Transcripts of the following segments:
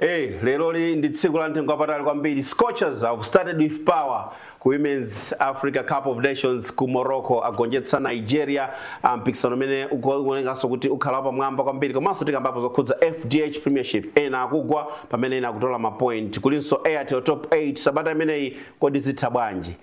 Hey, eh, lero li ndi tsiku la mtengo wapatali kwambiri. Scorchers have started with power ku Women's Africa Cup of Nations ku Morocco agonjetsa Nigeria ah, mpikisano umene ukuonekanso kuti ukhala wapamwamba kwambiri komanso tikambapo zokhudza FDH Premiership ena akugwa pamene ena akutola mapoint kulinso Airtel Top 8 sabata imeneyi kodi zitha bwanji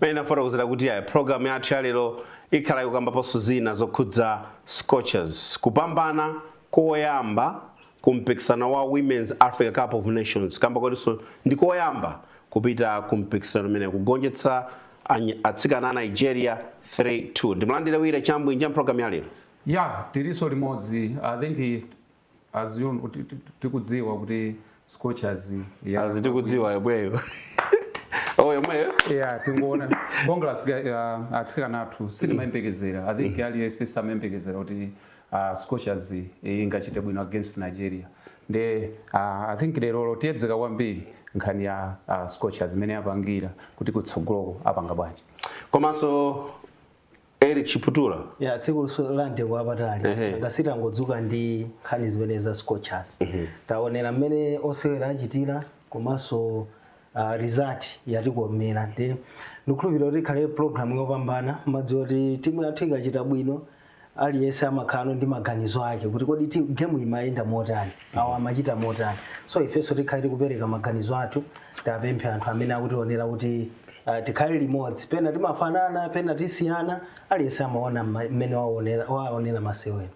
pamene ndafotokozera kuti ayi programu yathu ya lero ikhala ikukambaponso zina zokhudza scorchers kupambana koyamba ku mpikisano wa Women's Africa Cup of Nations kamba kotinso ndi koyamba kupita ku mpikisano umenewu kugonjetsa any- atsikana a Nigeria 3-2 ndimulandire wire chambwinja mpulogalamu ya lero ya tilinso limodzi i think as you know, ti- ti- tikudziwa kuti scorchers ya- azi tikudziwa yomweyo oh yomweyo ya tingoona congrats uh, atsikana athu sitimayembekezera i think aliyense samayembekezera kuti Scorchers ingachite bwino against nigeria nde i think lerolo tiyedzeka kwambiri nkhani ya Scorchers mmene yapangira kuti kutsogoloko apanga bwanji komanso eric chiputula ya tsiku la mtengo wapatali Ehe. ngasita ngodzuka ndi nkhani zimene za scorchers taonera mmene osewera achitira komanso uh, result yatikomera ndi ndikukhulupirira kuti ikhale program yopambana mumadziwa kuti timu yathu ikachita bwino aliyense amakhalano ndi maganizo ake kuti kodi ti- game imayenda motani awo amachita motani so ifenso tikhale tikupereka maganizo athu tiwapemphe anthu amene akutionera kuti uh, tikhale limodzi pena timafanana pena tisiyana aliyense amaona mma- mmene waonera waonera masewera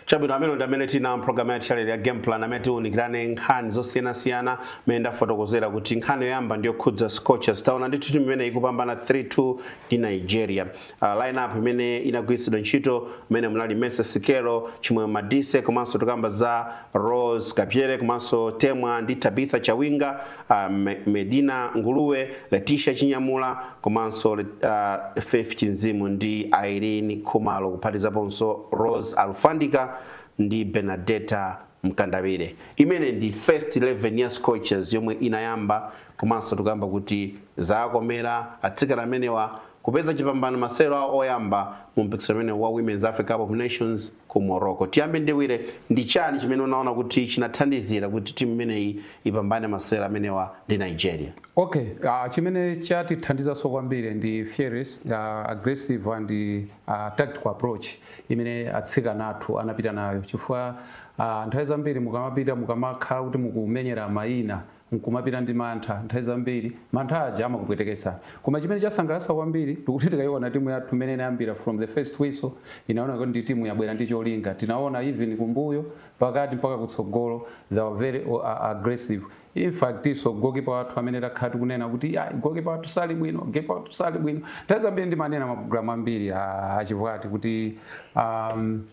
chabwino amenewa ndi amene tinawo mpulogalamu ya challenge ya game plan amene tiunikirane nkhani zosiyanasiyana mene ndafotokozera kuti nkhani yoyamba ndiyokhudza scorchers taona ndithu timu imeneyi ikupambana 3-2 ndi nigeria uh, lineup imene inagwiritsidwa ntchito imene munali Mercy Sikelo, Chimwemwe Madise komanso tukamba za Rose Kabzere komanso Temwa ndi Tabitha Chawinga, uh, Me- Madina Nguluwe, Leticia Chinyamula komanso uh, Faith Chinzimu ndi Irene Khumalo kuphatizaponso Rose Alufandika ndi Benadetta Mkandawire. Imeneyi ndi first 11 ya Scorchers yomwe inayamba komanso tukamba kuti zakomera atsikana amenewa kupeza chipambano m'masewero awo oyamba mu mpikisano umenewu wa Women's Africa Cup of Nations ku Morocco. Tiyambe ndi Wire, ndi chani chimene unaona kuti chinathandizira kuti timu imeneyi ipambane masewero amenewa ndi Nigeria? Okay, uh, chimene chatithandizanso kwambiri ndi fearless uh, aggressive and uh, tactical approach imene atsikana athu anapita nayo chifukwa uh, nthawi zambiri mukamapita mukamakhala kuti mukumenyera mayina n'kumapita ndi mantha. Nthawi zambiri mantha aja amakupweteketsa. Koma chimene chasangalatsa kwambiri ndi kuti tikaiona timu yathu mmene inayambira from the first whistle, inaoneka kuti ndi timu yabwera ndi cholinga. Tinaona even kumbuyo, pakati mpaka kutsogolo they were very aggressive. In fact'nso goalkeeper wathu amene takhala tikunena kuti ayi goalkeeper wathu sali bwino, goalkeeper wathu sali bwino. Nthawi zambiri ndimanena mapulogalamu ambiri a a Chibwati kuti um,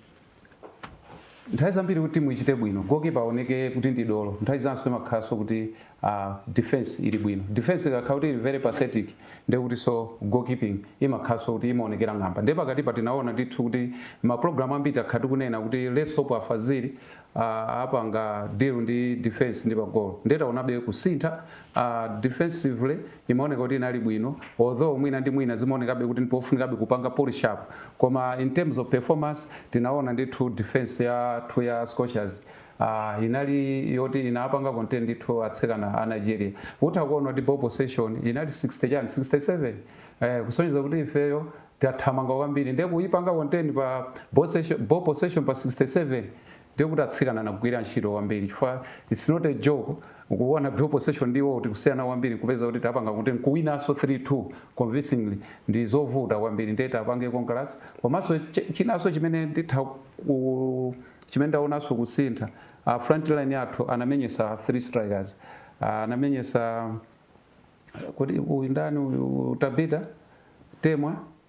nthawi zambiri kuti timu ichite bwino goalkeeper aoneke kuti ndi dolo nthawi zinanso imakhalanso kuti uh, defense ili bwino defense ikakhala kuti ili very pathetic ndiye kutinso goalkeeping imakhalanso kuti imaonekera ng'amba ndiye pakatipa tinaona ndithu kuti mapulogalamu ambiri takhala tikunena kuti let's hope a Fazili uh, apanga deal ndi defense ndi pagolo ndiye taonabe kusintha uh, defensively imaoneka kuti inali bwino although mwina ndi mwina zimaonekabe kuti ndipofunikabe kupanga polish up koma in terms of performance tinaona ndithu defense yathu ya scorchers uh, inali yoti inapanga contain ndithu atsikana a nigeria utha kuona kuti ball possession inali 60 chani 67 eh, kusonyeza kuti ifeyo tathamanga kwambiri ndiye kuipanga contain pa ball session- ball possession pa 67 ndiye kuti atsikana anagwira ntchito kwambiri chifukwa it's not a joke kuona ball possession ndi iwowo tikusiyana kwambiri kupeza kuti tapanga kuti nkuwinanso 3-2 convincingly ndi zovuta kwambiri ndiye tiapange congrats komanso ch- chinanso chimene nditha ku chimene ndaonanso kusintha uh, frontline yathu anamenyesa three strikers uh, anamenyesa kuti uyu ndani uyu Tabitha Temwa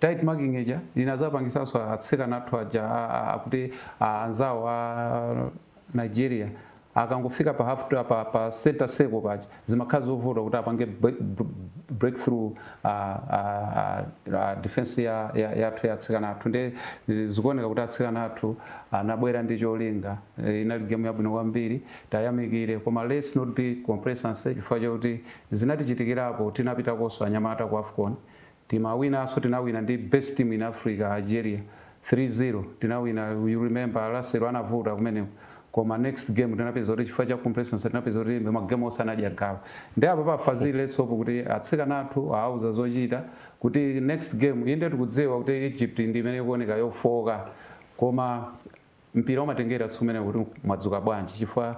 Tight marking ija inazapangitsanso atsikana athu aja a, a, akuti a, anzawo a Nigeria akangofika pa half pa, pa center circle paja zimakhala zovuta kuti apange break, break through uh, uh, uh, defense ya, ya, yathu ya atsikana athu nde zikuoneka kuti atsikana athu anabwera ndi cholinga eh, inali game yabwino kwambiri tayamikire koma let's not be complacency chifukwa chakuti zinatichitikirapo tinapitakonso anyamata ku afcon Timawinaso tinawina ndi best team in Africa Algeria 3 0 tinawina you remember Russell anavuta kumeneko koma next game tinapeza kuti chifukwa cha complacency tinapeza kuti ma game onse anadya galu nde apapa a Fazili let's hope kuti atsikana athu awauza zochita kuti next game inde tikudziwa kuti Egypt ndi imene ikuoneka yofooka koma Mpira umatengera tsiku limenelo kuti mwadzuka bwanji chifukwa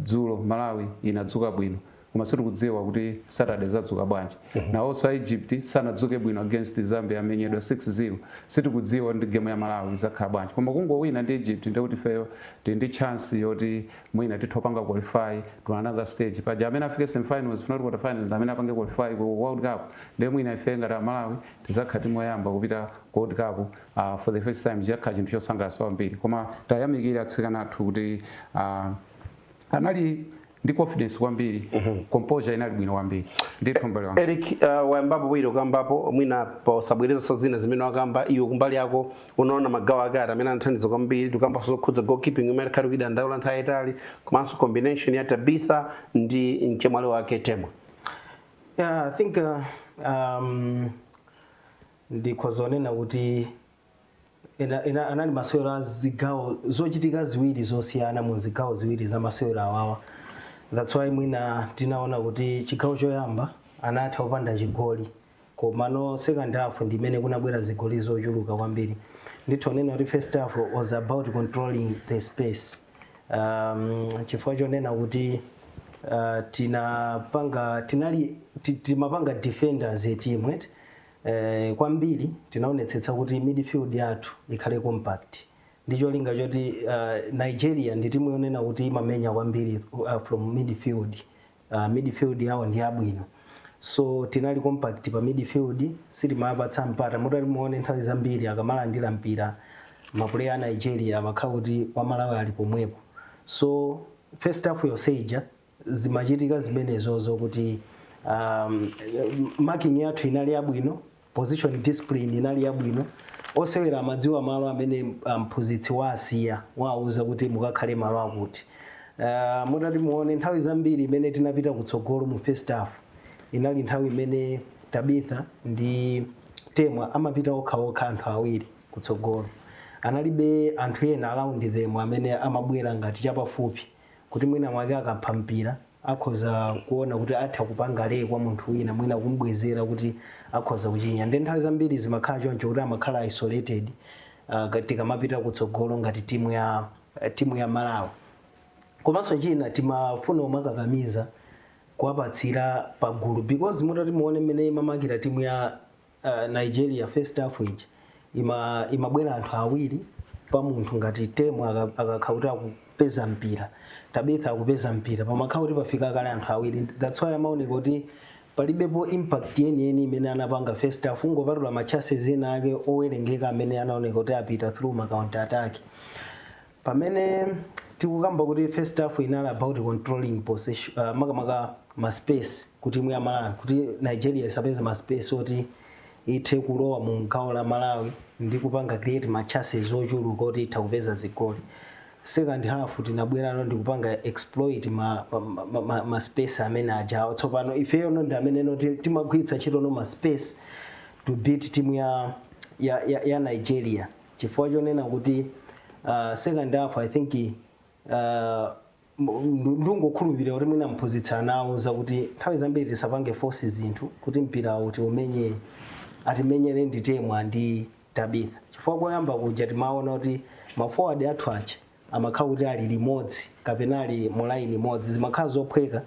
dzulo Malawi inadzuka bwino koma sitikudziwa kuti Saturday izadzuka bwanji. Nawonso a Egypt sanadzuke bwino against Zambia amenyedwa 6-0 sitikudziwa kuti ndi game ya Malawi izakhala bwanji koma kungowina ndi Egypt ndiye kuti ifeyo tili ndi chance yoti mwina titha kupanga qualify to another stage. Paja amene afike semifinals if not quarterfinals ndi amene apange qualify ku World Cup ndiye mwina ife ngati a Malawi tizakhala team yoyamba kupita ku World Cup uh for the first time chiyakhala chinthu chosangalatsa kwambiri koma tiyamikire atsikana athu kuti uh, anali ndi confidence kwambiri mm -hmm. composure inali bwino kwambiri ndithu m'bale wanga Eric uh, wayambapo bwino ukambapo mwina posabwerezanso zina zimene wakamba iwo kumbali yako unaona magawo ake ati amene anathandiza kwambiri tukamba zokhudza goalkeeping imene takhala tikuidandaula nthawi yaitali komanso combination ya Tabitha ndi mchemwali wake Temwa yeah i think uh, um, Ndikhoza kunena kuti ena, ena anali masewero a zigawo zochitika ziwiri zosiyana mu zigawo ziwiri za masewero awawa that's why mwina tinaona kuti chigawo choyamba anatha opanda chigoli komano second half ndi imene kunabwera zigoli zochuluka kwambiri nditha kunena kuti first half was about controlling the space um, chifukwa chonena kuti uh, tinapanga tinali ti- timapanga defenders a team right eh, kwambiri tinaonetsetsa kuti midfield yathu ikhale compact ndi cholinga choti uh, nigeria ndi timu yonena kuti imamenya kwambiri uh, from midfield uh, midfield yawo ndi yabwino so tinali compact pa midfield sitimapatsa mpata mutati muone nthawi zambiri akamalandira mpira mapuleya a nigeria amakhala kuti wamalawi ali pomwepo so first half yonse ija zimachitika zimenezozo kuti um, marking yathu inali yabwino position discipline inali yabwino osewera amadziwa malo amene um, mphunzitsi um, waasiya wawauza kuti mukakhale malo akuti uh, mutati muone nthawi zambiri imene tinapita kutsogolo mu first half inali nthawi imene tabitha ndi temwa amapita okhaokha anthu awiri kutsogolo analibe anthu ena around them amene amabwera ngati chapafupi kuti mwina mwake akapha mpira akhoza kuona kuti atha kupanga lay kwa munthu wina mwina kumubwezera kuti akhoza kuchinya nde nthawi zambiri zimakhala choncho kuti amakhala isolated uh, tikamapita kutsogolo ngati timu ya eh, timu ya malawi komanso china timafuna kumawakakamiza kuwapatsira pagulu because mutati muone mmene imamakira timu ya uh, Nigeria first half ija ima imabwera anthu awiri pa munthu ngati Temwa akakhala kuti akupeza mpira tabitha akupeza mpira pamakhala kuti pafika kale anthu awiri that's why amaoneka kuti palibepo impact yeniyeni imene anapanga first half kungopatula machances ena ake owerengeka amene anaoneka kuti apita through ma counter attack Pamene tikukamba kuti first half inali about controlling possession, makamaka ma space ku timu ya Malawi kuti Nigeria isapeze ma space oti ithe kulowa mu gawo la Malawi ndi kupanga create ma chances ochuluka oti itha kupeza zigoli. Second half tinabwerano ndi kupanga exploit ma, ma, ma, ma, ma space amene ajawo. Tsopano ifeyono ndi ameneno ti- timagwiritsa ntchitono ma space to beat timu ya, ya, ya, ya Nigeria. chifukwa chonena kuti uh, second half i think uh, ndungokhulupirira kuti mwina mphunzitsi anawauza kuti nthawi zambiri tisapange force zinthu kuti mpira oti umenye atimenyere ndi temwa ndi tabitha chifukwa koyamba kuja timaona kuti maforward athu aja amakhala kuti ali limodzi kapena ali mulaini imodzi zimakhala zophweka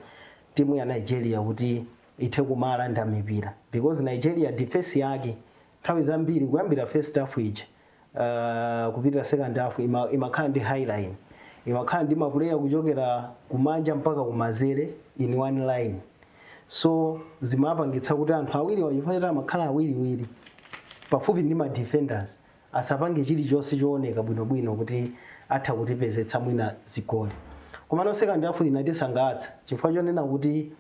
timu ya nigeria kuti ithe kumalanda mipira because nigeria defense yake Nthawi zambiri kuyambira first half ija uh, kupita second half ima, imakhala ndi high line imakhala ndi mapuleya kuchokera kumanja mpaka kumanzere in one line so zimapangitsa kuti anthu awiriwa chifukwa choti amakhala awiriwiri pafupi ndi ma defenders asapange chilichonse chooneka bwinobwino kuti atha kutipezetsa mwina zigoli komano second half inatisangalatsa chifukwa chonena kuti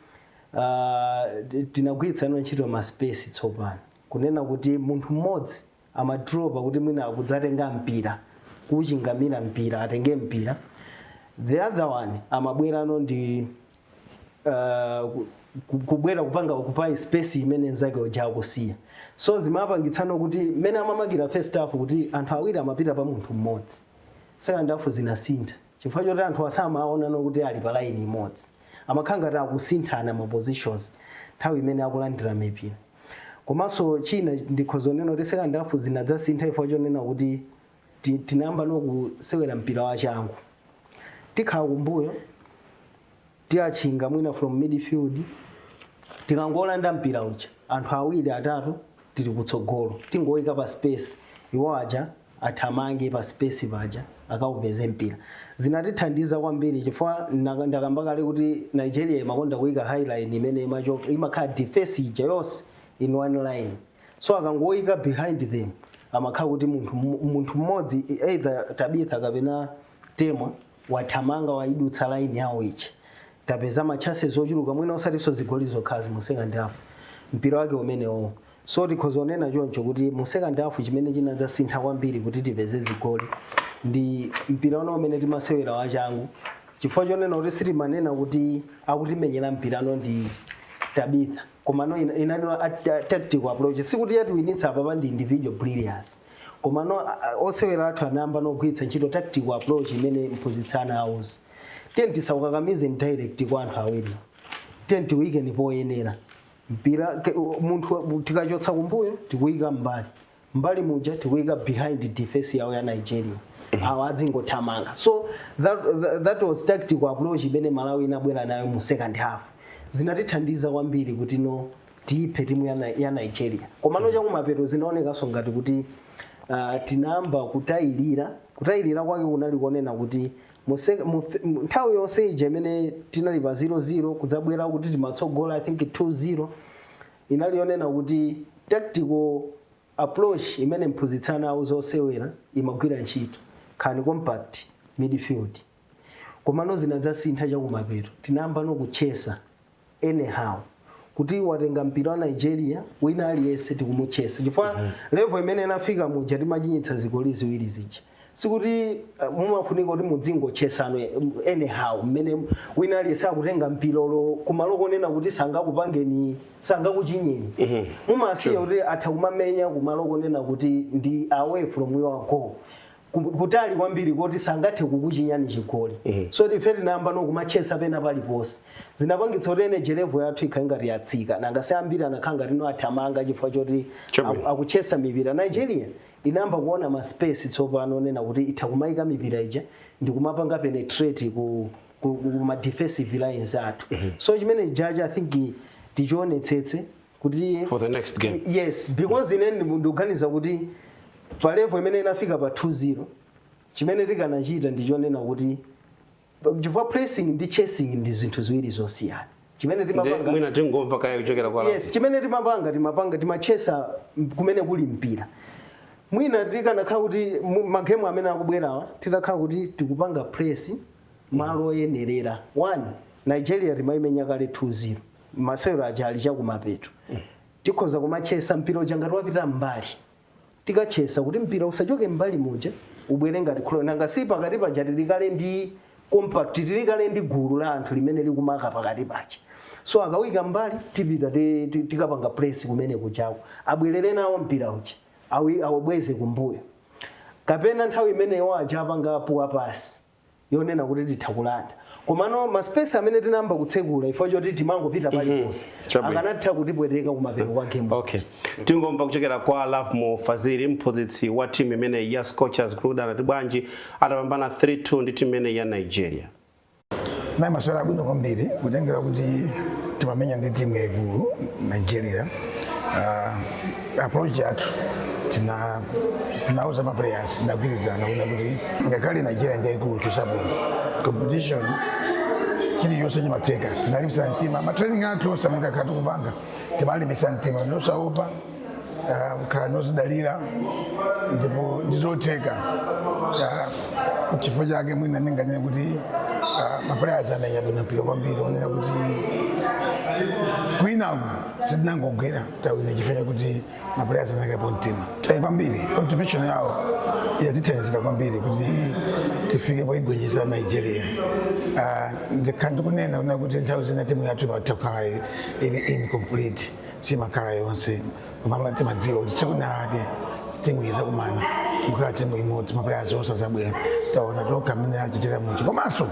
uh, tinagwiritsa ntchito ma space tsopano kunena kuti munthu mmodzi amadropa kuti mwina akudzatenga mpira kuchingamira mpira atenge mpira the other one amabwerano ndi uh, ku- ku- kubwera kupanga occupy space imene nzake uja akusiya so zimapangitsano kuti mmene amamakira first half kuti anthu awiri amapita pa munthu mmodzi second half zinasintha Chifukwa choti anthuwa samawaonano kuti ali pa line imodzi, amakhala ngati akusinthana ma positions nthawi imene akulandira mipira. Komanso china ndikhoza kunena kuti second half zinadzasintha chifukwa chonena kuti tinayambano kusewera mpira wachangu, tikhala kumbuyo. tiwatchinga mwina from midfield tikangolanda mpira uja anthu awiri atatu tili kutsogolo tingoyika pa space iwo aja athamange pa space paja akaupeze mpira zinatithandiza kwambiri chifukwa naka- ndakamba kale kuti nigeria imakonda kuyika high line imene imachoka imakhala defense ija yonse in one line so akangoyika behind them amakhala kuti munthu munthu mmodzi either tabitha kapena temwa wathamanga waidutsa line yawo ija tapeza ma chances ochuluka mwina osatinso zigoli zokhazi mu second half mpira wake umenewowo so tikhoza kunena choncho kuti mu second half chimene chinadzasintha kwambiri kuti tipeze zigoli ndi mpira uno umene timasewera wachangu chifukwa chonena kuti sitimanena kuti akutimenyera mpirano ndi tabitha komano ina- inali a- ta- tactical approach sikuti yatiwinitsa apapa ndi individual brilliance koma no, osewera athu anayamba nogwiritsa ntchito tactical approach imene mphunzitsi anawauza tiyeni, tisawukakamize directly kwa anthu awiri tiyeni tiwuyikeni poyenera mpira munthu tikachotsa kumbuyo tikuyika mbali mbali muja tikuyika behind defense yawo ya nigeria mhm. awo adzingothamanga so that, that, that was tactical approach imene malawi inabwera nayo mu second half zinatithandiza kwambiri kuti no tiyiphe timu ya, Ni- ya nigeria komano chakumapeto zinaonekanso ngati kuti uh, tinayamba kutayirira kutayirira kwake kunali konena kuti muse- mufe- mu- nthawi yonse ija imene tinali pa 00 kudzabwera kuti timatsogola i think 20 inali yonena kuti tactical approach imene mphunzitsi anauza osewera imagwira ntchito khani compact midfield komano zinadzasintha chakumapeto tinayamba nokutchesa anyhow kuti watenga mpira wa nigeria wina aliyense tikumutchesa chifukwa mm -hmm. level imene inafika muja timachinyitsa zigoli ziwiri zija sikuti uh, mumafunika kuti mudzingotchesa no anyhow mmene wina aliyense akutenga mpira olo kumalo konena kuti sangakupangeni sangakuchinyeni mm -hmm. mumasiya kuti atha kumamenya kumalo konena kuti ndi away from your goal ku- kutali kwambiri koti sangathe kukuchinyani chigoli Eh. so ife tinayamba nokumatchesa pena paliponse zinapangitsa kuti energy level yathu ikhale ngati yatsika nanga si ambiri anakhala ngati no athamanga chifukwa choti Chabwino. aku- akutchesa mipira nigeria inayamba kuona ma space tsopano onena kuti itha kumayika mipira ija ndi kumapanga penetrate ku, ku, ku ma defensive lines athu so chimene jaji i think tichionetsetse kuti For the next game. Y- yes because ine ndi- ndikuganiza kuti pa level imene inafika pa 2-0 chimene tikanachita ndi chonena kuti chifukwa pressing ndi chasing ndi zinthu ziwiri zosiyana chimene Ndi- timapanga mwina tingomva kaya kuchokera kwa yes chimene timapanga timapanga timatchesa kumene kuli mpira mwina tikanakhala kuti mu- magemu amene akubwerawa titakhala kuti tikupanga press malo oyenerera one nigeria timayimenya kale 2-0 masewero aja ali chakumapeto tikhoza kumatchesa mpira uja ngati wapita mbali tikatchesa kuti mpira usachoke mbali muja ubwere ngati ku goal nanga si pakati paja tili kale ndi compact tili kale ndi gulu la anthu limene likumaka pakati paja so akawuika mbali tipita ti- ti- tikapanga press kumene kuja kuti abwerere nawo mpira uja awi- awubweze kumbuyo kapena nthawi imene awo aja apanga a poor pass yonena kuti titha kulanda komano ma space amene tinayamba kutsekula ife chifukwa choti timangopita paliponse Chabwino. akanatha kutipweteka kumapeto kwa game okay tingomva kuchokera kwa Lovemore Fazili mphunzitsi wa timu imeneyi ya scorchers kuti anati bwanji atapambana 3-2 ndi timu imeneyi ya nigeria nayi masewero abwino kwambiri kutengera kuti timamenya ndi timu yaikulu nigeria Ah, approach yathu tina tinauza ma players tagwirizana kunena kuti ngakhale nigeria ndiyaikulu tisaope competition chiliyonse chimatheka tinalimbisa mtima matraining athu onse amene takhala tikupanga timalimbisa mtima nosaopa kukhala nozidalira ndipo ndizotheka Ah, chifukwa chake mwina ndinganene kuti ah, maplayers amenya bwino mpira kwambiri onena kuti kwinaku sitinangogwera tawina chifukwa chakuti mapulayaz anaikapo mtima Eh, kwambiri contribution yawo yatithandizira kwambiri kuti tifike poigonjeza nigeria Ah, ndakhala ndikunena kunena kuti nthawi zina timu yathu imatha kukhala i- ili incomplete simakhala yonse koma timadziwa kuti tsiku lina lake timu izakumana kukhala timu imodzi mapulaya zonse azabwera taona tokha mmene achitira muchi komanso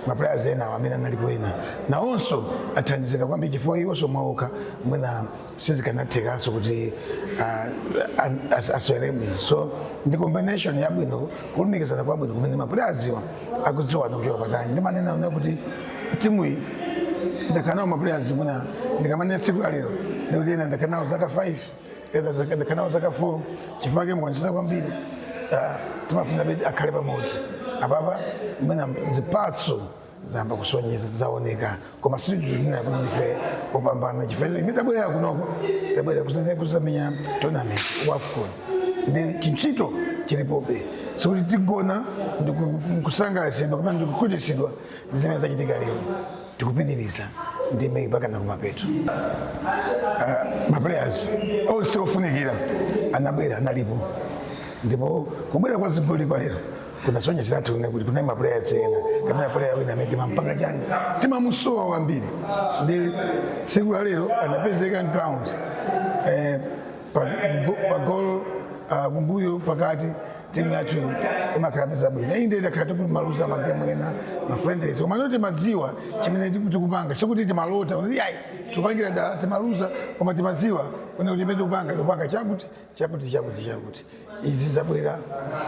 mapulaya enawo amene analipo ena nawonso athandizika kwambiri chifukwa iwonso mwaokha mwina sizikanathekanso kuti ah, an- as- asewere bwino so ndi combination yabwino kulumikizana kwabwino kumene mapulayaziwa akudziwana kuchoka patali ndimanena kunena kuti timuyi ndakhala nawo mapulayazi mwina ndikamanena tsiku la lero ndikuti ena ndakhala nawo zaka 5 ena zaka- ndakhala nawo zaka 4 chifukwa kumenya konse kwambiri ah, timafuna bedi akhale pamodzi apapa mwina zipatso zayamba kusonyeza zaoneka koma sitinena kuti ndife opambana chifukwa chimene tabwerera kunoko tabwerera kuzamenya kuzamenya tournament wa afcon ndiye chintchito chilipobe sikuti tigona ndi ku- kusangalatsidwa kapena ndi kukhutitsidwa ndi zimene zachitika lero tikupitiriza ndime mpaka na kumapeto maplayers onse ofunikira anabwera analipo ndipo kubwera kwa zigoli kwa lero kunasonyezeratu kunena kuti kunali mapuleya ena kapena puleya wina amene timampanga chani timamusowa kwambiri ndiye tsiku la lero anapezeka ground eh, pa- go- pagolo ah, kumbuyo pakati timu yathu ikalipeza bwino iyi ndiye takhala tikuluza magemu ena mafriendlies koma lero timadziwa chimene tiku- tikupanga sikuti timalota kuti ayi tikupangira dala timaluza koma timadziwa kunena kuti chimene tikupanga tikupanga chakuti chakuti chakuti chakuti izi zabwera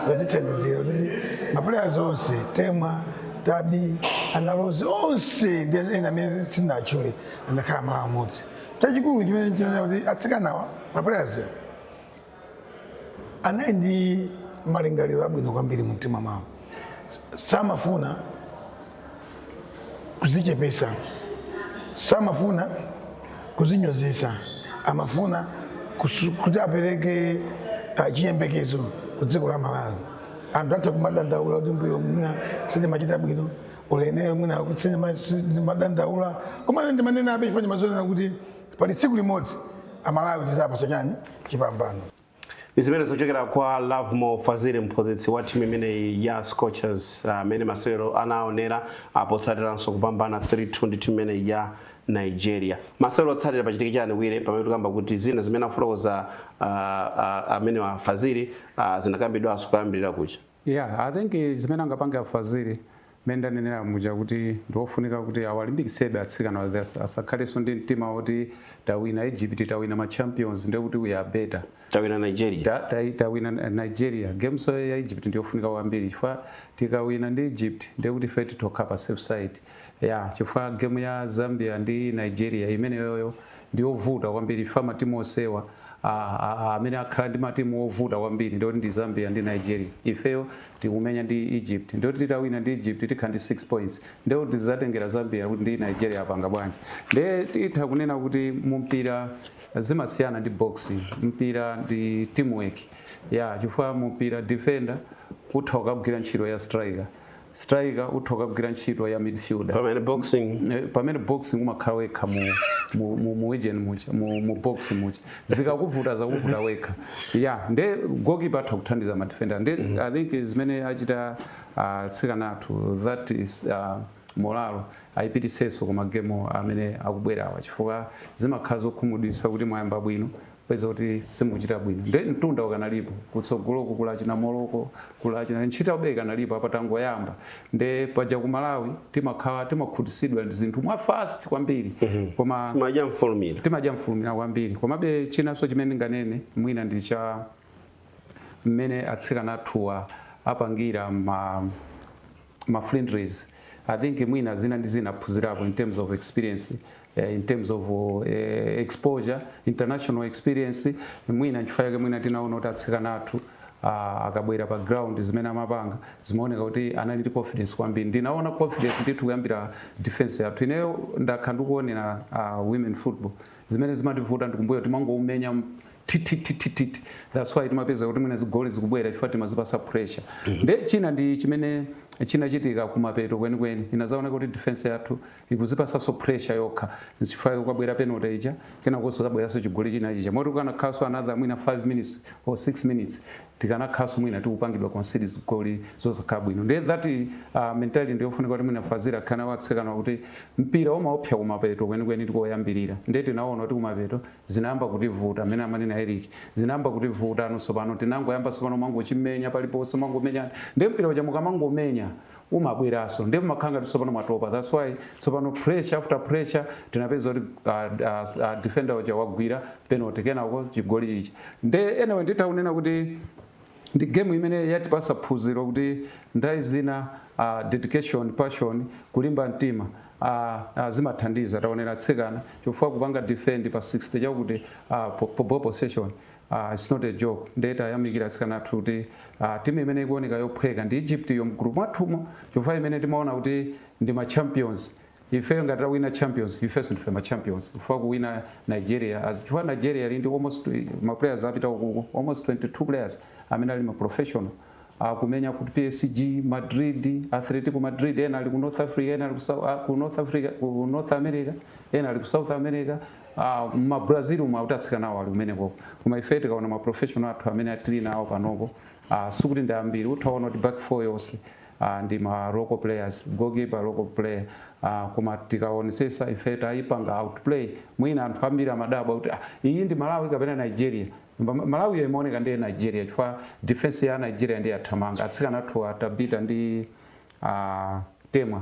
zatithandizira kuti mapulayaz onse temwa tabi ana rozi onse ndi ena amene sindinatchule anakhala malo amodzi chachikulu chimene ndinaona kuti atsikanawa mapulayazi anali ndi malingaliro abwino kwambiri mu mtima mwawo samafuna kuzichepesa samafuna kuzinyozesa amafuna kusu- kuti apereke ah, chiyembekezo ku dziko la malawi anthu atha kumadandaula kuti mbuyo mwina sindimachita bwino uleneyo mwina kuti sindima- sindimadandaula koma ine ndimanena abe chifukwa ndimazinena kuti pali tsiku limodzi amalawi tizawapatsa chani chipambano ndi zimene zochokera kwa Lovemore Fazili mphunzitsi wa timu imeneyi ya Scorchers amene uh, masewero anaonera apo potsatiranso kupambana 3-2 ndi timu imeneyi ya Nigeria masewero otsatira pachitike chani Waya pamene tikamba kuti zina zimene afotokoza uh, uh, amene a Fazili uh, zinakambidwanso koyambirira kuja Yeah, I think zimene angapange a Fazili mmene ndanenera muja kuti ndiwofunika kuti awalimbikitsebe atsikanawa asakhalenso ndi mtima woti tawina Egypt tawina ma champions ndiye kuti we are better tawina Nigeria Ta- ta- tawina Nigeria game iyi ya Egypt ndiyofunika kwambiri chifukwa tikawina ndi Egypt ndiye kuti ife titokhala pa safe side Yeah, chifukwa game ya Zambia ndi Nigeria imeneyoyo ndiyovuta kwambiri chifukwa matimu onsewa amene akhala ndi matimu ovuta kwambiri ndiyoti ndi Zambia ndi Nigeria. Ifeyo tikumenya ndi Egypt ndiyoti titawina ndi Egypt tikhala ndi 6 points ndiyo tizatengera Zambia kuti ndi Nigeria apanga bwanji. Ndiye titha kunena kuti mumpira zimasiyana ndi boxing, mpira ndi teamwork ya yeah, chifukwa mumpira defender utha kukagwira ntchito ya striker Striker utha kukagwira ntchito ya midfielder. Pamene boxing. Eh, pamene boxing umakhala wekha mu mu mu mu ring muja mu, mu box muja zikakuvuta zakuvuta wekha ya nde goalkeeper atha kuthandiza ma defender nde mm. i think zimene achita uh, atsikana athu that is uh, morale ayipititsenso ku ma game amene akubwerawa chifukwa zimakhala zokhumudwitsa kuti mwayamba bwino kupeza kuti simukuchita bwino nde mtunda ukanalipo kutsogoloku kuli China Morocco kuli China ntchitobe ikanalipo apa tangoyamba nde paja ku malawi timakhala timakhutisidwa ndi zinthu mwa fast kwambiri koma timadya mfulumira timadya mfulumira kwambiri komabe chinanso chimene ndinganene mwina ndi cha mmene atsikana athuwa apangira ma ma friendlies i think mwina zina ndi zina aphunzirapo in terms of experience eh, in terms of eh, exposure international experience mwina nchifukwa chake mwina tinaona kuti atsikana athu ah, akabwera pa ground zimene amapanga zimaoneka kuti anali ndi confidence kwambiri ndinaona confidence ndithu kuyambira defense yathu ineyo ndakhala ndikuonera ah, women football zimene zimativuta ndikumbuyo timangoumenya tititititi that's why timapeza kuti mwina zigoli zikubwera chifukwa timazipasa pressure mm. nde china ndi chimene chinachitika kumapeto kwenikweni inazaoneka kuti defense yathu ikuzipasanso pressure yokha chifukwa kunabwera penalty ija kenakonso kubweranso chigoli china chija moti kukanakhalanso another mwina 5 minutes or 6 minutes tikanakhaso mwina tikupangidwa concede zigoli zosakhala bwino ndiye that uh, mentality ndiyofunika kuti mwina Fazili akanena atsikana kuti mpira umaopsya kumapeto kwenikweni ndi koyambirira ndiye tinaona kuti kumapeto zinayamba kutivuta mmene amanena Eric zinayamba kutivuta ndiye sopano tinangoyamba sopano kumangochimenya paliponse mangomenya ndiye mpira uja mukamangomenya umabweranso ndiye mumakhala ngati tsopano mwatopa that's why tsopano pressure after pressure tinapezeka kuti uh, uh, uh, defender uja wagwira penalty kenako chigoli chichi nde anyway nditha kunena kuti ndi game imene yatipasa phunziro kuti nthawi zina uh, dedication passion kulimba mtima uh, uh, zimathandiza taonera atsikana chifukwa kupanga defend pa 60 chakuti uh, bo, bo, ball possession aah its not a joke nde tayamikira atsikana athu kuti aah team imene ikuoneka yophweka ndi Egypt yo mgroup mwathumu chifukwa imene timaona kuti ndi ma champions ifeyo ngati titawina champions ifenso ndife ma champions chifukwa kuwina Nigeria as chifukwa Nigeria ili ndi almost ma players apita ukuko almost 22 players amene ali ma professional akumenya ku psg, madrid, atletico madrid ena ali ku north africa ena ali ku Sou- ah, ku north africa ku north america ena ali ku south america ah, ma brazil umu akuti atsikana awo ali kumenekoko koma ife tikaona ma professional athu amene tili nawo panopo ah, sikuti ndi ambiri mutha kuona kuti back four yonse ah, ndi ma local players goalkeeper local player ah, koma tikaonesesa ife tayipanga outplay mwina anthu ambiri amadabwa kuti ah, iyi ndi malawi kapena nigeria Koma malawi yo imaoneka ndi Nigeria chifukwa defence ya Nigeria ndiye yathamanga atsikana athuwa a Tabitha ndi a Temwa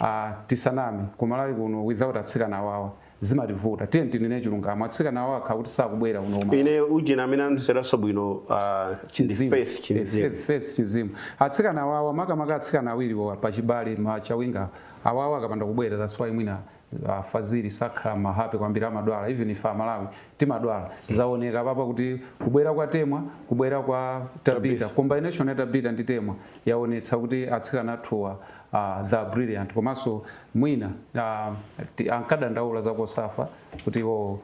aah tisaname ku malawi kuno without atsikana awawa zimativuta tiyeni tinene chilungamo atsikana awawa akakhala kuti sakubwera kuno ku Malawi. Ine ujeni amene anandiseweranso bwino aah ndi Chinzimu Faith eh Chinzimu. Faith Faith Chinzimu atsikana awawa makamaka atsikana awiriwa pachibale ma Chawinga awa awawa akapanda kubwera that's why mwina A Fazili sakhala ma happy kwambiri amadwala even ife amalawi timadwala zaoneka apapa kuti kubwera kwa Temwa kubwera kwa Tabitha combination ya Tabitha ndi Temwa yaonetsa kuti atsikana athuwa they are brilliant komanso mwina ankadandaula za Cosafa kuti iwowo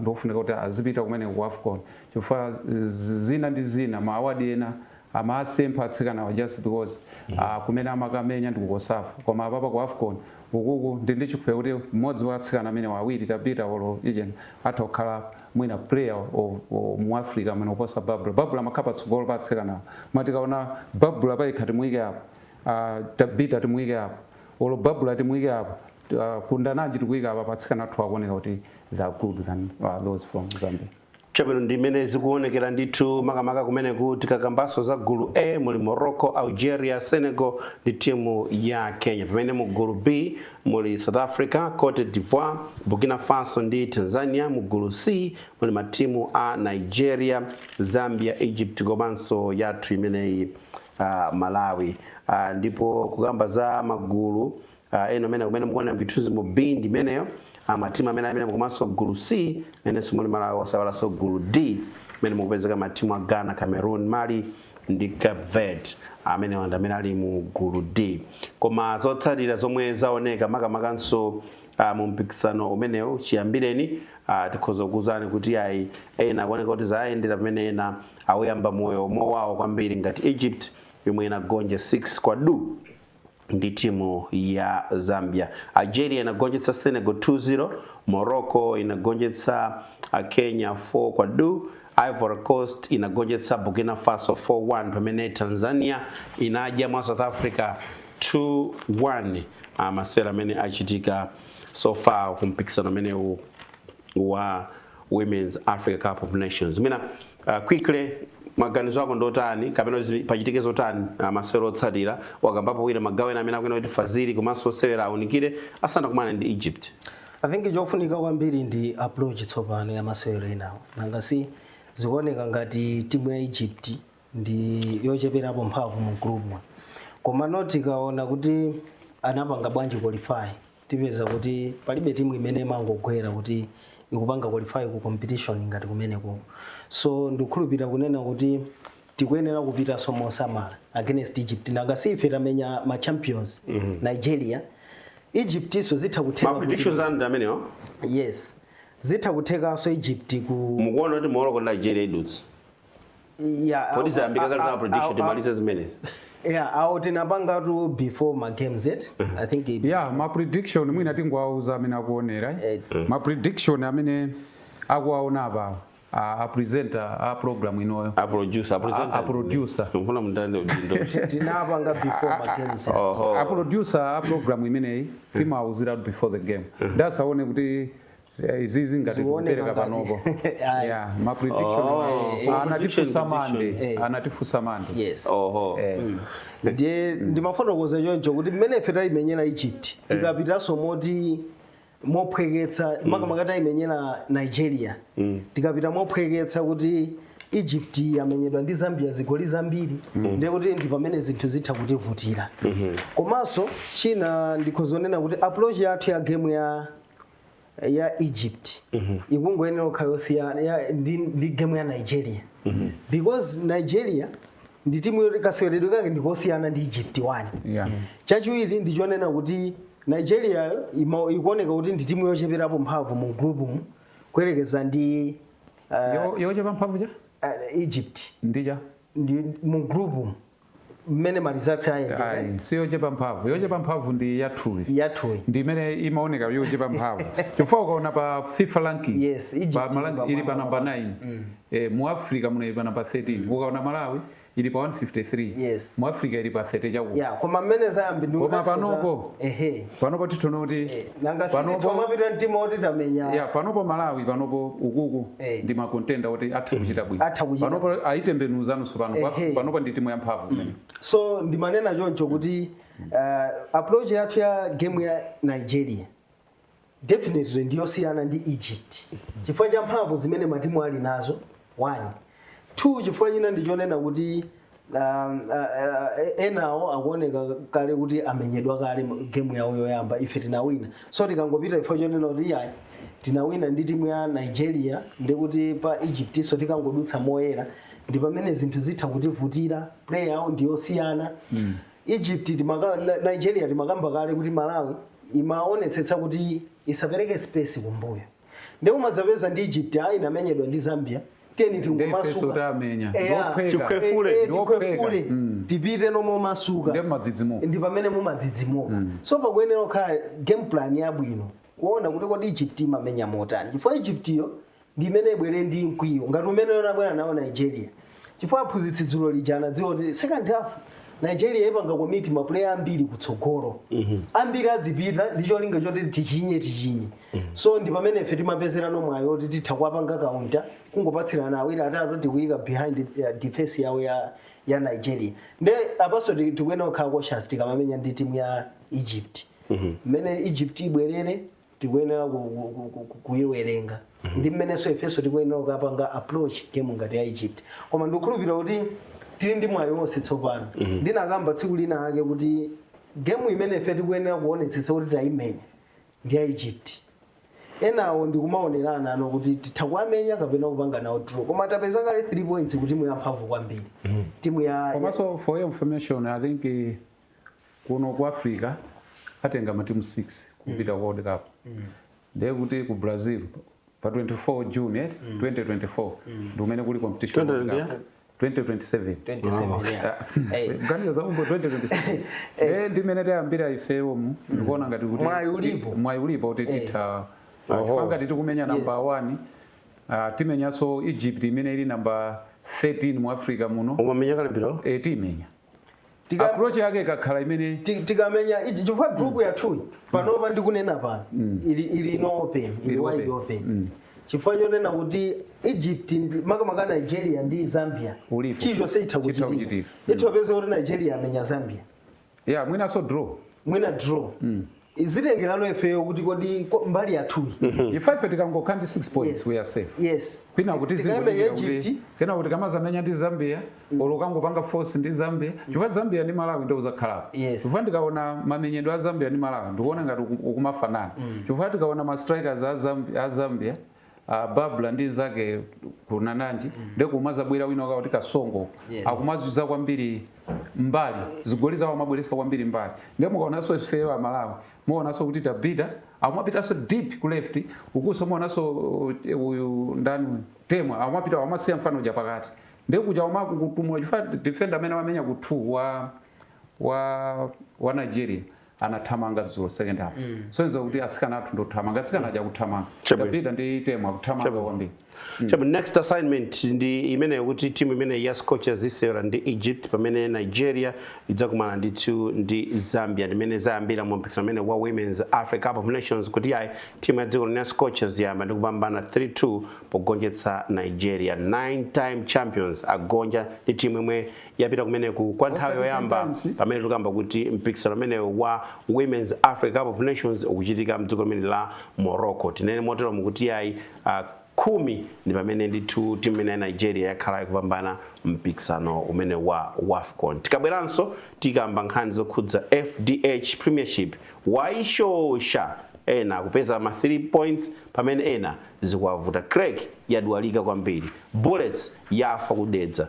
ndiofunika kuti azipita kumeneko ku afcon chifukwa zina ndi zina ma award ena amasempha atsikanawa just because uh, kumene amakamenya ndi ku cosafa koma apapa ku afcon ukuku ndili ndi chikhulupiriro kuti mmodzi wa atsikana amenewa awiri Tabitha olo ujeni atha kukhala mwina player o- o- mu africa muno kuposa Barbra Barbra amakhala patsogolo pa atsikanawa koma tikaona Barbra payekha timuyike apo ah, Tabitha timuyike apo olo Barbra timuyike apo ah, kundananji timuyike apa atsikana athu akuoneka kuti they are good than ah, those from zambia Chabwino, ndi mmene zikuonekera ndithu, makamaka kumeneku tikakambanso za gulu A muli Morocco, Algeria, Senegal ndi timu ya Kenya, pamene mu gulu B muli South Africa, Cote d'Ivoire, Burkina Faso ndi Tanzania, mu gulu C muli matimu a Nigeria, Zambia, Egypt komanso yathu imeneyi ah, Malawi. Ah, ndipo kukamba za magulu uh, eno amene kumene mukuona m'zithunzi mu b ndi imeneyo uh, matimu amene amene komanso gulu c mmenenso muli malawi osaiwalanso gulu d mmene mukupezeka matimu a ghana cameroon mali ndi cape verde amene amene ali mu gulu d koma zotsatira zomwe zaoneka makamakanso uh, mu mpikisano umenewu chiyambireni uh, tikhoza kukuuzani kuti ayi ena akuoneka kuti zayendera pamene ena awuyamba moyo mowawo kwambiri ngati egypt yomwe inagonja 6 kwa duu ndi timu ya Zambia. Algeria inagonjetsa Senegal 2-0, Morocco inagonjetsa Kenya 4 kwa duu, Ivory Coast inagonjetsa Burkina Faso 4-1, pamene Tanzania inadya mwa South Africa 2-1. Ah, masewera amene achitika so far ku mpikisano umenewu wa Women's Africa Cup of Nations. Mwina uh, quickly maganizo ako ndotani kapena kuti pachitike zotani uh, masewera otsatira wakambapo mwina magawo ena amene akuyenera kuti fazili komanso osewera aunikire asanakumana ndi Egypt. I think chofunika kwambiri ndi approach tsopano ya masewera enawo nanga si zikuoneka ngati timu ya Egypt ndi yocheperapo mphamvu mu group mwathu koma tikaona kuti anapanga bwanji qualify tipeza kuti palibe timu imene imangogwera kuti ikupanga qualify ku competition ngati kumeneko so ndikukhulupirira kunena kuti tikuyenera kupitanso mosamala against egypt nanga si ife tamenya ma champions nigeria egyptinso zitha kutheka kuti- mapredictions anu ndi amenewo yes zitha kuthekanso egypt mukuona kuti morocco ndi nigeria idutsa Yeah, kodi awo- zayambika a- kale a- za prediction awo- timalize zimenezi yeah, awo tinapangatu before ma games it i think it- ya ma prediction mwina tingowauza amene akuonera eh. ma prediction amene akuwaona apawo a a presenter a program inoyo a producer a presenter A- a producer. mfuna mundilande udindo tinapanga before ma games it. oho a producer a program imeneyi timawauziratu before the game asaone kuti Yeah, izizi ngati Zioneka tikupereka ngati. panopo Ayi. yeah, ma prediction Oh. wa- Eh, eh, anatifunsa prediction, Monday eh. anatifunsa Monday yes oho Eh, ndiye ndimafotokoza choncho kuti mmene ife tayimenyera egypt tikapitanso moti mophweketsa makamaka tayimenyera nigeria tikapita mophweketsa kuti egypt yamenyedwa ndi zambia zigoli zambiri ndiye kuti ndi pamene zinthu zitha kutivutira komanso china ndikhoza kunena kuti approach yathu ya game ya ya egypt ikungoyenera kukhala yosiyana ya- ndi, ndi game ya nigeria because nigeria ndi timu yoti kaseweredwe kake ndikosiyana ndi egypt one Yeah. chachiwiri ndichonena kuti nigeria ima- ikuoneka kuti ndi timu yocheperapo mphamvu mu group mu kuyerekeza ndi uh, Yo- yochepa mphamvu than uh, egypt Nigeria ndi mu group mu mmene ma results ayendera ayi si yochepa mphamvu yochepa mphamvu ndi yathuyi yathuyi ndi imene imaoneka yochepa mphamvu chifukwa ukaona pa fifa ranking Yes, Egypt pa Malawi ili ili pa pa namba namba 9 eh, mu africa muno ili pa namba 13 ukaona malawi ili pa 153 Yes. mu africa ili pa 30 chakuti ya koma mmene zayambira ndi Koma ukati panopo. za- ehe panopo titha kuona kuti nanga Panopo- sititwa mapita mtima oti tamenya ya panopo malawi panopo ukuku Eh. ndi ma contender oti atha kuchita bwino Atha kuchita. panopo ayitembenuza tsopano Ehe. panopo ndi timu ya mphamvu imene. so ndimanena choncho kuti uh, approach yathu ya game ya nigeria definitely ndiyosiyana ndi egypt chifukwa cha mphamvu zimene matimu ali nazo 1 2 chifukwa china ndi chonena kuti um, uh, uh, enawo akuoneka kale kuti amenyedwa kale mu- gemu yawo yoyamba ife tinawina so tikangopita chifukwa chonena kuti ayi tinawina ndi timu ya nigeria ndi kuti pa egyptso tikangodutsa moyera ndi pamene zinthu zitha kutivutira play yawo ndi yosiyana mm. egypt timaka, Ni- nigeria timakamba kale kuti malawi imaonetsetsa kuti isapereke space kumbuyo ndiye umadzapeza ndi egypt ayi inamenyedwa ndi zambia tiyeni Nde ifeso tingomasuka tamenya. Eya. Ndiophweka. Tikhwefule. Eh, eh, Ndiophweka. tikhwefule Mm. tipite momasuka Nde madzidzimuka. ndi pamene mumadzidzimuka so pakuyenera kukhala game plan yabwino kuona kuti kodi egypt imamenya motani chifukwa egyptyo ndi imene ibwere ndi mkwiyo ngati umene inabwera nawo nigeria chifukwa aphunzitsi dzulo lija anadziwa kuti second half nigeria ipanga commit mapuleya ambiri kutsogolo ambiri adzipita ndi cholinga choti tichinye tichinye so ndi pamene ife timapezerano mwayi woti titha kuwapanga counter kungopatsirana awiri atatu tikuyika behind uh, defense yawo ya, ya nigeria nde apanso ti- tikuyenera kukhala cautious tikamamenya ndi timu ya egypt mmene egypt ibwerere tikuyenera ku- ku- ku- ku- ku- kuyiwerenga ndi mmenenso ifenso tikuyenera kukapanga approach game ngati ya egypt koma ndikukhulupirira kuti tili ndi mwayi wonse tsopano ndinakamba tsiku lina lake kuti game imene ife tikuyenera kuonetsetsa kuti tayimenya ndi ya egypt enawo ndikumaonerana ano kuti titha kuwamenya kapena kupanga nawo draw koma tapeza kale 3 points kuti timu yamphamvu kwambiri timu ya komanso for your information i think eh, kuno ku africa atenga matimu 6 kupita ku world cup ndiye kuti ku brazil pa 24 june eh, 2024 ndi kumene kuli competition ya World Cup. 2020? 2027 27 yeah. Hey. kuganiza za mmbuyo 2027 eh ndi mmene tayambira ifeyomu ndikuona ngati kuti Mwayi ulipo. mwayi ulipo kuti titha Oho. panga titi kumenya namba Yes. 1 ah, timenyanso egypt imene ili namba 13 mu africa muno umamenya kalembiro eh timenya Tika- approach yake ikakhala imene ti- tikamenya ichi chifukwa group yathuyi panopa ndikunena pano ili ili no open ili Ili wide open. open chifukwa chonena kuti egypt ndi- makamaka nigeria ndi zambia Ulipo. chilichonse itha Chitha kuchitika kuchitika. itha kupeza kuti nigeria amenya zambia ya mwinaso draw mwina draw zitengerano ifeyo kuti kodi ko- mbali yathuyi ife ife tikangokha ndi 6 points Yes. we are safe yes kwinaku tikayimenya zikuti Egypt kenaku tikamazamenya ndi zambia olo kukangopanga force ndi zambia chifukwa zambia ndi malawi ndewu izakhalapo Yes. chifukwa ndikaona mamenyedwe a zambia ndi malawi ndikuona ngati uku- ukumafanana chifukwa tikaona ma strikers a Zambi- a zambia a Barbra ndi nzake Kundananji ndiye kumazabwera wina akuti Kasongo Yes. akumazuza kwambiri mmbali zigoli zawo amabweresa kwambiri mmbali ndiye mukaonanso ifeyo a Malawi muonanso kuti Tabitha akumapitanso deep ku left ukunso muonanso uh, uyu ndani uyu, temwa akumapita akumasiya mfana uja pakati ndiye kuja umaku kutumula chifukwa defender amene amamenya ku 2 wa wa wa Nigeria anathamanga dzulo second half sonyeza kuti atsikana athu ndothamanga atsikana aja kuthamanga Chabwino. tabitha ndi temwa kuthamanga Chabwino. kwambiri Chabu, next assignment ndi imeneyo kuti timu imene ya scorchers isewera ndi egypt pamene nigeria idzakumana ndithu ndi zambia ndi mmene zayambira mu mpikisano umene wa women's africa cup of nations kuti yayi timu ya dziko lino ya scorchers yayamba ndi kupambana 3-2 pogonjetsa nigeria nine time champions agonja ndi timu yomwe yapita kumeneku kwa nthawi yoyamba pamene tikukamba kuti mpikisano umenewu wa Women's Africa Cup of Nations ukuchitika mdziko limene la Morocco tinene motero mukuti yayi uh, khumi ndi pamene ndithu timu imene ya nigeria yakhala ikupambana mpikisano umene wa wafcon tikabweranso tikamba nkhani zokhudza fdh premiership waishosha ena kupeza ma 3 points pamene ena zikuwavuta creck yadwalika kwambiri bullets yafa ku dedza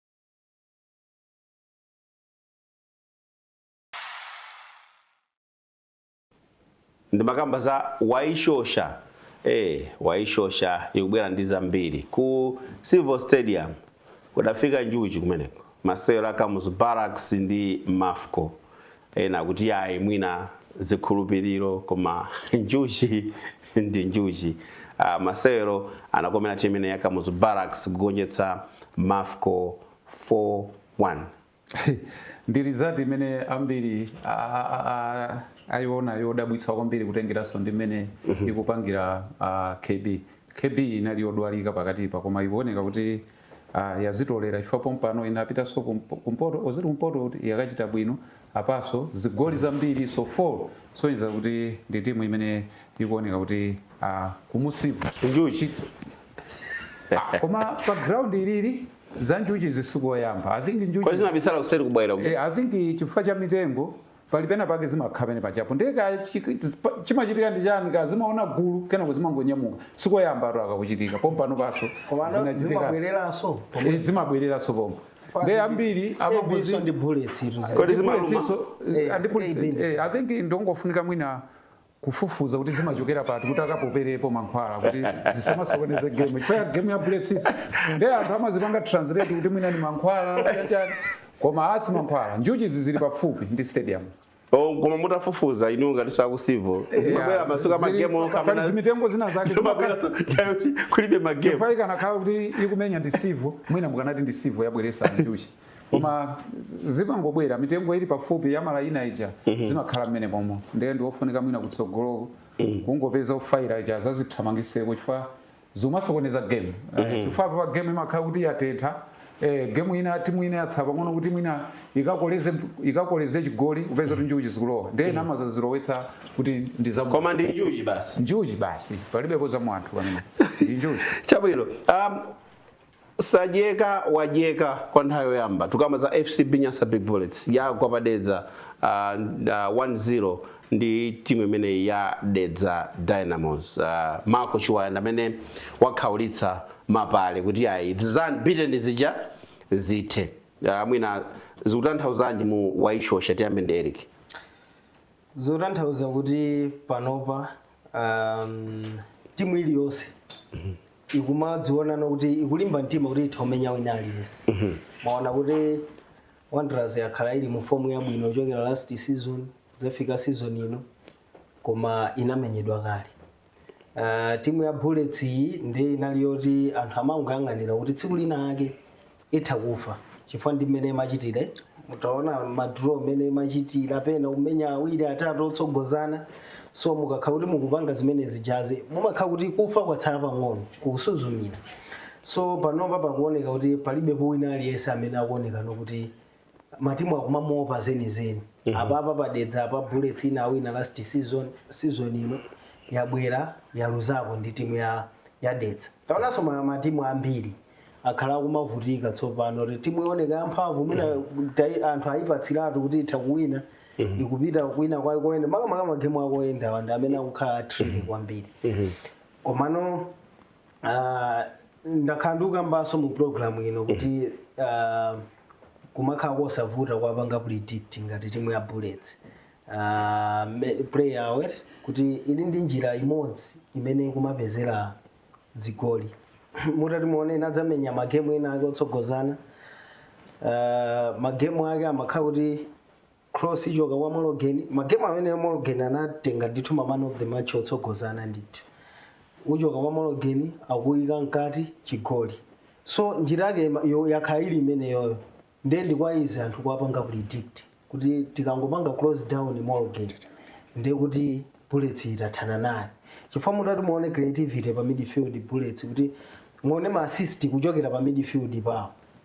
ndimakamba za waishosha eh waishosha ikubwera ndi zambiri ku civil stadium kudafika njuchi kumeneko masewero a kamuzu barracks ndi mafco Ena kuti yayi mwina zikhulupiliro koma njuchi ndi njuchi. Aaa masewero anakomera team imene ya Kamuzu Barracks kugonjetsa Mafco 4 1. Ndi result imene ambiri ayiona yodabwitsa kwambiri kutengeranso ndi mmene ikupangira KB. KB inali yodwalika pakatipa koma ikuoneka kuti. Ah yazitolera chifukwa pompano inapitanso ku mpoto or zili ku mpoto kuti yakachita bwino apanso zigoli zambirinso 4 kusonyeza kuti ndi timu imene ikuoneka kuti ah kumusiku Njuchi. ah, koma pa ground ili za njuchizi sikoyamba i think Kwa njuchi zinabisala kuseri kubwera. uku. eh, i think chifukwa cha mitengo Pali pena pake zimakha pene pajapo ndiye kaya chimachitika ndi chani kaya zimaona gulu kenako zimangonyamuka sikoyamba tu aka kuchitika pompano panso zimabwereranso eh, zimabwereranso pomwe ndi ambiri amabuzi ndi bullets tu eh, eh, i think ndongofunika mwina kufufuza kuti zimachokera pati kuti akapoperepo mankhwala kuti zisamasokoneze game chifukwa game ya bullets iso ndi anthu amazipanga translate kuti mwina ni mankhwala chachani koma asi mankhwala njuchi zizili pafupi ndi stadium Oh, koma mutafufuza inu ngati za ku Civo zimabwera masiku a magemu Pali okamana zimitengo zina zake zimabwera kulibe magemu chifukwa ikanakhala kuti ikumenya ndi Civo mwina mukanati ndi Civo yabweresa njuchi koma zimangobwera mitengo ili pafupi ya malayina ija mhm. zimakhala mmenemomo ndiye ndiofunika mwina kutsogoloko mhm. kungopeza ofayira ija zazithamangiseko chifukwa zomasokoneza game eh, mhm. chifukwa pa game imakhala kuti yatentha eh, gemu ina timu ina yatsa pang'ono kuti mwina ikakoleze ikakoleze chigoli upeza kuti njuchi zikulowa ndiye nama zazilowetsa kuti ndi za koma ndi njuchi basi njuchi basi palibepo za mwa anthu pamenepo ndi njuchi chabwino um, Sadyeka wadyeka kwa nthawi yoyamba tukukamba za FCB Nyasa Big Bullets yagwa pa Dedza uh, uh, 1-0 ndi timu imene ya Dedza Dynamos. Uh, Marco Chiwaya ndamene wakhaulitsa mapale kuti ayi za unbeaten zija zithe. Uh, mwina zikutanthauzanji Mu Waishosha tiyambe ndi Eric. zotanthauza kuti panopa um, timu iliyonse ikumadzionano kuti ikulimba mtima kuti itha kumenya wina aliyense mwaona kuti Wanderers yakhala ili mu fomu yabwino kuchokera last season kudzafika season ino koma inamenyedwa kale uh, timu ya bullets iyi ndi inali yoti anthu amangoyang'anira kuti tsiku lina ake itha kufa chifukwa ndi mmene imachitire mutaona madraw mmene imachitira pena kumenya awiri atatu otsogozana so mukakhala kuti mukupanga zimene zijazi mumakha kuti kufa kwatsala pang'ono kusuzumira so panopa pakuoneka kuti palibepo wina aliyense amene akuonekano kuti matimu akumamuopa zenizeni apapa pa dedza apa bullets inawina last season season ino yabwera yaluzako ndi timu ya ya dedza taonanso ma- matimu ambiri akhala akumavutika tsopano kuti timu ioneka yamphamvu mwina tai- anthu ayipatsiratu kuti itha kuwina ikupita kuwina kwayo koyenda makamaka magemu akoyendawa ndi amene akukhala a tricky kwambiri komano Ah, ndakhala ndikukambanso mu program ino kuti ah, kumakhala kosavuta kuwapanga predict ngati timu ya bullets Ah, ma- play awo oti kuti ili ndi njira imodzi imene ikumapezera zigoli mutati muone inadzamenya magemu ena ake otsogozana Ah, magemu ake amakhala kuti cross ichoka kwa mologeni magemu amene mologeni anatenga ndithu ma man of the match otsogozana ndithu uchoka kwa mologeni akuyika mkati chigoli so njira yake ima- yo- yakhala ili imeneyoyo ndiye ndi kwa easy anthu kuwapanga predict kuti tikangopanga close down mologeni ndiye kuti bullets tathana naye chifukwa mutati muone creativity pa midfield bullets kuti muone ma assist kuchokera pa midfield pawo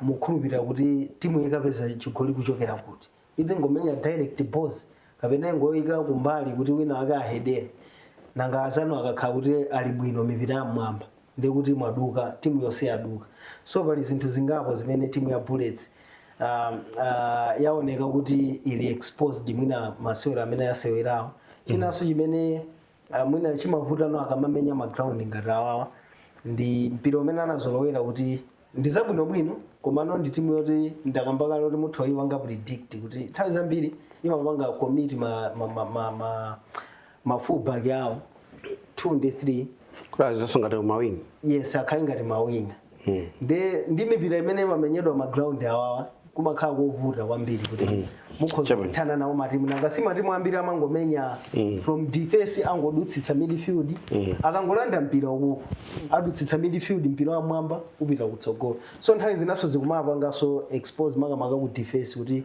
mukhulupilira kuti timu ikapeza chigoli kuchokera kuti? Idzingomenya direct balls? Kapena ingoika kumbali kuti wina ake ahedere? Nanga azanu akakhala kuti ali bwino mipira ya mmwamba ndiye kuti mwaduka, timu yonse yaduka. So pali zinthu zingapo zimene timu ya Bullets um, uh, yaoneka kuti ili exposed mwina masewero amene yasewerawo. Chinanso chimene Ah, mwina chimavuta no akamamenya ma ground ngati awawa ndi mpira umene anazolowera kuti ndi zabwinobwino komano ndi timu yoti ndakamba kale kuti mutha kuyipanga predict kuti nthawi zambiri imapanga commit ma, ma, ma, ma, ma, ma fullback awo 2 ndi 3 kuti azikhalanso ngati mawinga yes akhale ngati mawinga nde ndi mipira imene ikamamenyedwa magraundi awawa kumakhala kovuta kwambiri kuti mukhoza Chabwino. kuthana nawo matimu nanga si matimu ambiri amangomenya from defense angodutsitsa midfield akangolanda mpira ukuku adutsitsa midfield mpira wamwamba upita kutsogolo so nthawi zinanso zikumapanganso expose makamaka ku defense kuti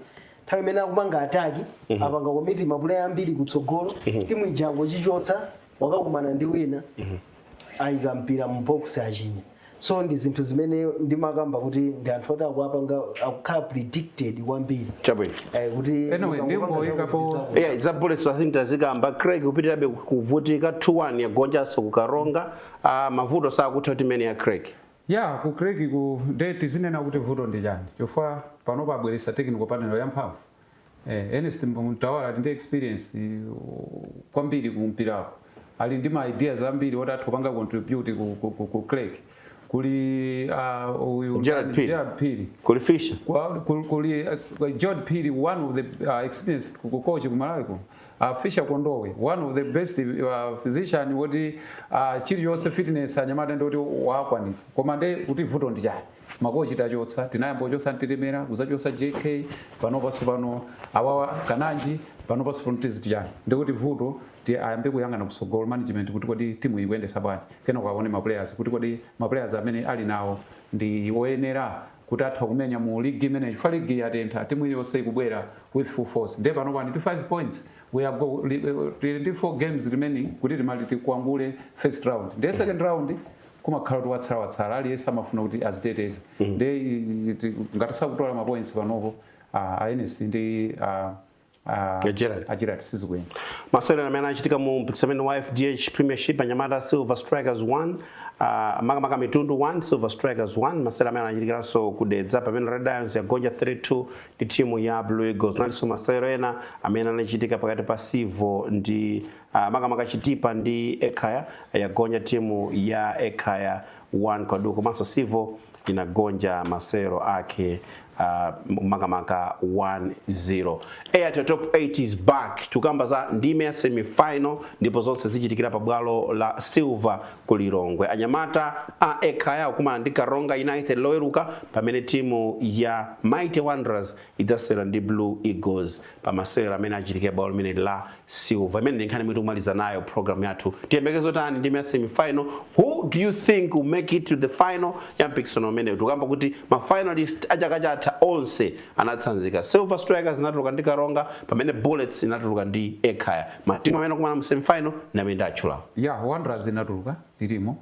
nthawi imene akumanga ataki apanga commit mapuleya ambiri kutsogolo timu ija ingochichotsa wakakumana ndi wina ayika mpira mu box achinya so ndi zinthu zimene ndimakamba kuti ndi anthu oti akuwapanga akukhala predicted kwambiri chabwino Eh, kuti Anyway, mukangopanga ndingoyikapo- zakuti zakuti. yeah, za bullets i think tazikamba craig kupitirirabe kuvutika 2-1 yagonjanso ku karonga uh, mavuto sakutha ku timu imene ya craig ya ku craig ku nde tizinene kuti vuto ndi chani chifukwa pano abweretsa technical panel yamphamvu Eh, Ernest Mtawali ali ndi experience uh, kwambiri ku mpirako ali ndi ma ideas ambiri oti atha kupanga contribute ku, ku, ku, ku Creck kuli uh, uyu Gerald nani, Phiri. Gerald Phiri kuli Fisher Kwa- kul- kuli uh, George Phiri one of the uh, experienced ku- ku coach ku Malawi kuno uh, Fisher Kondowe one of the best uh, physician woti uh, chiliyonse fitness anyamata ndi woti wakwanisa koma nde kuti vuto ndi chani makochi tachotsa tinayamba kuchotsa Mtetemera kuzachotsa JK panopanso pano awawa kananji panopanso pano tiziti chani ndikuti vuto ti ayambe kuyang'ana kusogolo management kuti kodi timu ikuyendetsa bwanji kenaka awaone maplayers kuti kodi maplayers amene ali nawo ndi oyenera kuti atha kumenya mu ligi imeneyi chifukwa ligi yatentha timu iliyonse ikubwera with full force nde panopa ndi 5 points we are go li- eh, tili ndi 4 games remaining kuti timali- tikwangule first round nde second round kumakhala kuti watsala watsala aliyense amafuna kuti aziteteze nde i- ti- ngati sakutola mapoints panopo ah, a Ernest ndi ah, ah, Ya Gerald. a Gerald sizikuyenda masewero amene anachitika mu mpikisano amene wa fdh premiership anyamata silver strikers 1 uh, makamaka mitundu 1 silver strikers 1 masewero amene anachitikiranso ku Dedza pamene red lions yagonja 3-2 ndi timu ya blue eagles nalinso masewero ena amene anachitika pakati pa Civo ndi Uh, makamaka chitipa ndi ekhaya yagonja timu ya ekhaya 1 kwa du komanso Civo inagonja masewero ake uh, makamaka 1-0 airtel top 8 is back tukamba za ndime ya semifinal ndipo zonse zichitikira pa bwalo la silver ku lilongwe anyamata a ekhaya akumana ndi karonga united loweruka pamene timu ya mighty wanderers idzasewera ndi blue eagles pa masewero amene achitike bwalo limeneli la Silver. Imeneyi ndi nkhani imene tikumaliza nayo program yathu. Tiyembekezere zotani ndime ya semi final. Who do you think will make it to the final ya mpikisano umenewu? Tukamba kuti ma finalist a chaka chatha onse anatsanzika. Silver Strikers inatuluka ndi Karonga pamene Bullets inatuluka ndi Ekhaya. Matimu amene akumana mu semi final ndi amene ndatchulawo. Yeah, Wanderers inatuluka ilimo.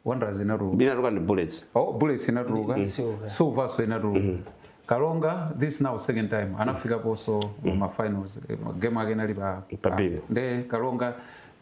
wanderers inatuluka inatuluka ndi bullets oh bullets inatuluka Ndi- ndi Silver. silvernso inatuluka karonga this now second time anafikaponso ma finals Eh, game yake inali pa Pa Bingu. nde karonga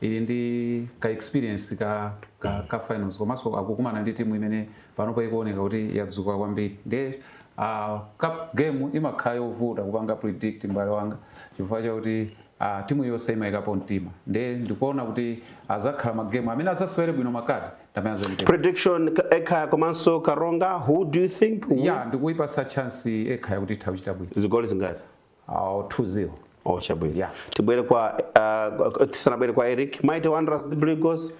ili ndi ka experience ka ka, ka finals komanso akukumana ndi timu imene panopo ikuoneka kuti yadzuka kwambiri nde uh, cup game imakhala yovuta kupanga predict mbale wanga chifukwa chakuti Aaa timu yonse imayikapo mtima nde ndikuona kuti azakhala ma game amene azasewere bwino ma card ndamene azachite bwino. Prediction Ekhaya komanso Karonga who do you think will? Yeah ndikuipasa chance Ekhaya kuti itha kuchita bwino. Zigoli zingati? Aaa 2 0. Oh chabwino. Yeah. Tibwere kwa uh, tisanabwere kwa Eric Mighty Wanderers ndi Blue Eagles.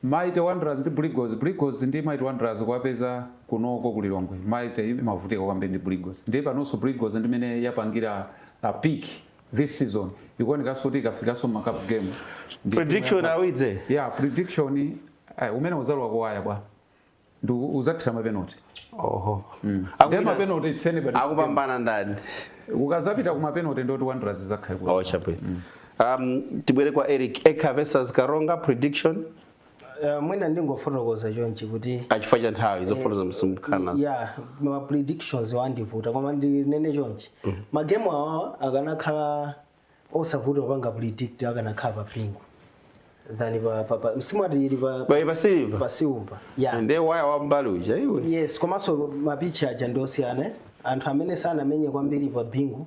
Mighty Wanderers ndi Blue Eagles. Blue Eagles ndi Mighty Wanderers kuwapeza konkuno ku Lilongwe. Mighty imavutika kwambiri ndi Blue Eagles. Ndiye panonso Blue Eagles ndimene yapangira uh, peak this season ikuonekanso kuti ikafikanso mma cup game ndi timu Prediction, ya- Awidze? yeah prediction eh, umene uzalowa kuwaya bwa ndi u- uzathira mapenalty oho ndi Akupita- mapenalty it's anybody akupambana ndani ukazapita kumapenalty ndoti wanderers izakhala kuti oh chabwino um tibwere kwa Eric Ekhaya versus karonga prediction Eh, mwina ndingofotokoza chonchi kuti Ah, chifukwa cha nthawi zofotokoza msumkhana ya ma predictions amandivuta koma ndinene chonchi magemu awawa akanakhala osavuta kupanga predict akanakhala pa Bingu than pa pa pa simwati ili pa Bali pa silver. pa silver ya nde waya wambali uja iwe yes komanso mapichi aja ndiosiyana anthu amene sanamenye kwambiri pa bingu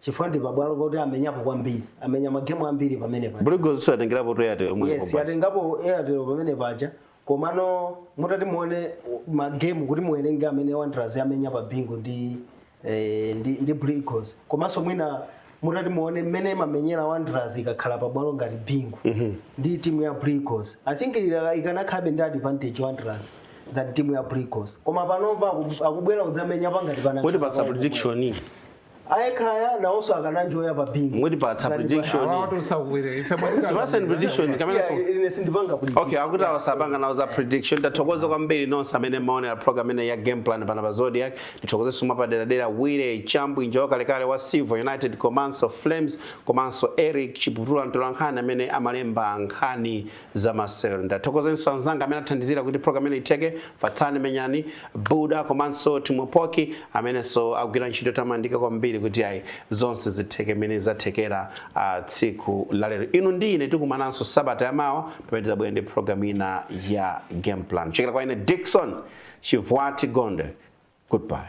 chifukwa ndi pabwalo poti amenyapo kwambiri amenya magemu ambiri pamene paja Blue Eagles atengerapo Airtel yomwe yes yatengapo airtel pamene paja komano mutati muone magemu kuti muwerenge amene wanderers amenya pa Bingu ndi eh, ndi, ndi Blue Eagles komanso mwina mutati muone mmene imamenyera wanderers ikakhala pabwalo ngati Bingu ndi timu ya Blue Eagles I think ila- ikanakhalabe ndi advantage wanderers than timu ya Blue Eagles koma panopa aku- akubwera kudzamenya pangati pano kutipatsa prediction a Ekhaya nawonso akananjoya pa Bingu mutipatsa Ngati pa- prediction awa tosakuwere ife mwatitana- tipatseni prediction Yeah, kapenanso ine sindipanga kuti okay akuti awa sapanga nawo za prediction tathokoza kwambiri nonse amene mmaonera program imeneyi ya game plan pano pa Zodiak tithokoze suma paderadera wire chambu njoka wakalekale wa Civo United komanso flames komanso eric chiputula mtolankhani amene amalemba nkhani zamasewero. Ndathokozenso anzanga amene athandizira kuti program ino itheke, Fatsani Menyani, Buda komanso Timo Poki amenenso agwira ntchito yotamandika kwambiri kuti ayi zonse zitheke mmene zathekera ah, tsiku la lero. Inu ndi ine tikumananso sabata yamawa pamene tidzabwera ndi program ina ya game plan. Kuchokera kwa ine Dickson Chivwati Gondwe. Goodbye.